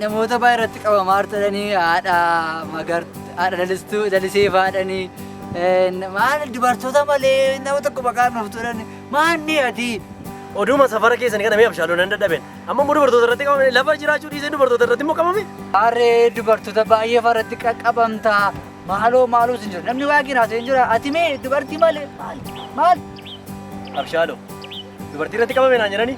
Namoota baay'ee irratti qabamaa artadhanii haadha magartu haadha lalistuu lalisee faadhanii maal dubartoota malee nama tokko maqaan nuuf turan maanni ati. Oduma safara keessan kana mee abshaaloo nan dadhaben. Amma immoo dubartoota irratti qabame lafa jiraachuu dhiisee dubartoota irratti immoo qabame. Harree dubartoota baay'ee faratti qaqqabamta. Maaloo maaloo sin jira. Namni waaqni naasee hin jira. Ati mee dubartii malee maal maal? Abshaaloo dubartii irratti qabame naan jedhanii.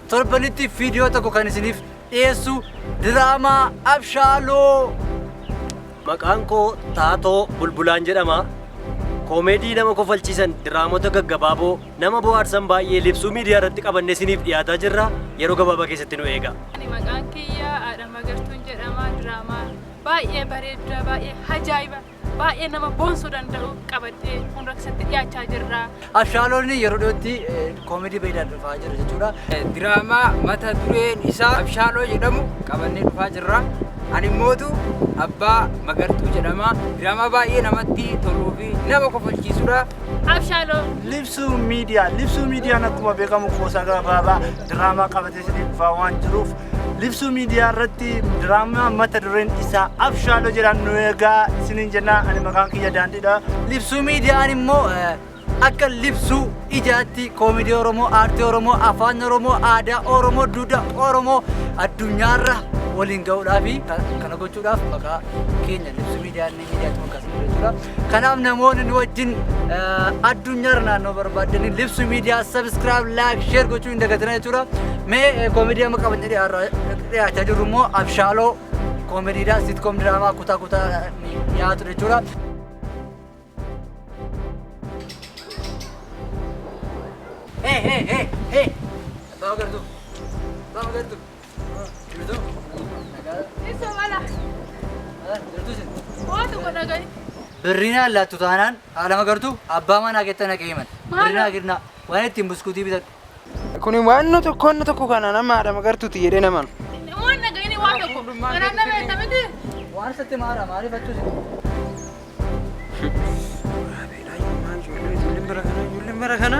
Torbanitti viidiyoo tokko kan isiniif dhiyeessu diraamaa Abshaaloo. Maqaan koo Taatoo Bulbulaan jedhama. Koomeedii nama kofalchiisan, diraamota gaggabaaboo, nama bohaarsan baay'ee libsuu miidiyaa irratti qabannee isiniif dhiyaataa jirra. Yeroo gabaabaa keessatti nu eegaa. Ani maqaan kiyya Aadha Magartuun jedhama. Diraamaa baay'ee bareedda, baay'ee ajaa'iba. baay'ee nama boonsuu danda'u qabattee fuuldura keessatti dhiyaachaa jirra. Abshaaloonni yeroo dhiyootti koomedii baay'inaan dhufaa jira jechuudha. Diraamaa mata dureen isaa Abshaaloo jedhamu qabannee dhufaa jirra. Ani mootu abbaa magartuu jedhama. Diraamaa baay'ee namatti toluu fi nama kofalchiisudha. Abshaaloo. Libsuu miidiyaa. Libsuu miidiyaan akkuma beekamu qoosaa gabaabaa diraamaa qabatee dhufaa waan jiruuf libsuu miidiyaa irratti diraamaa mata dureen isaa abshaaloo jedhaan nu eegaa isiniin jennaa ani maqaan kiyya daandiidha libsuu miidiyaan immoo akka libsuu ijaatti koomidii oromoo aartii oromoo afaan oromoo aadaa oromoo duudhaa oromoo addunyaarra waliin ga'uudhaaf kana gochuudhaaf maqaa keenya libsuu miidiyaan Dhiyaatuma akkas ture jira. Kanaaf namoonni nu wajjin eh, addunyaarra naannoo barbaadanii libsu miidiyaa sabiskiraayib laayik sheer gochuu hin dagatinaa jechuudha. Mee eh, koomedii amma qabannee dhiyaarra- dhiyaachaa jirru immoo abshaaloo koomediidhaa siitkoom diraamaa kutaa kutaa dhiyaatu jechuudha. Hey, hey, hey, hey! Abbaa Magartuu! Abbaa Magartuu! Birrii naan laattu taanaan haadha magartuu abbaa manaa keetti ana ga'ee mana. Birrii naa kennaa waan ittiin buskuutii bitadhu. Kun waanna tokko wanna tokko kana nama haadha magartuuti jedhee naman. Waan dhaga'ini waan tokko. Kanaaf nama eessa miti? Waan isatti maara maaliif achuu isin. Ijoolleen bara kana ijoolleen bara kana.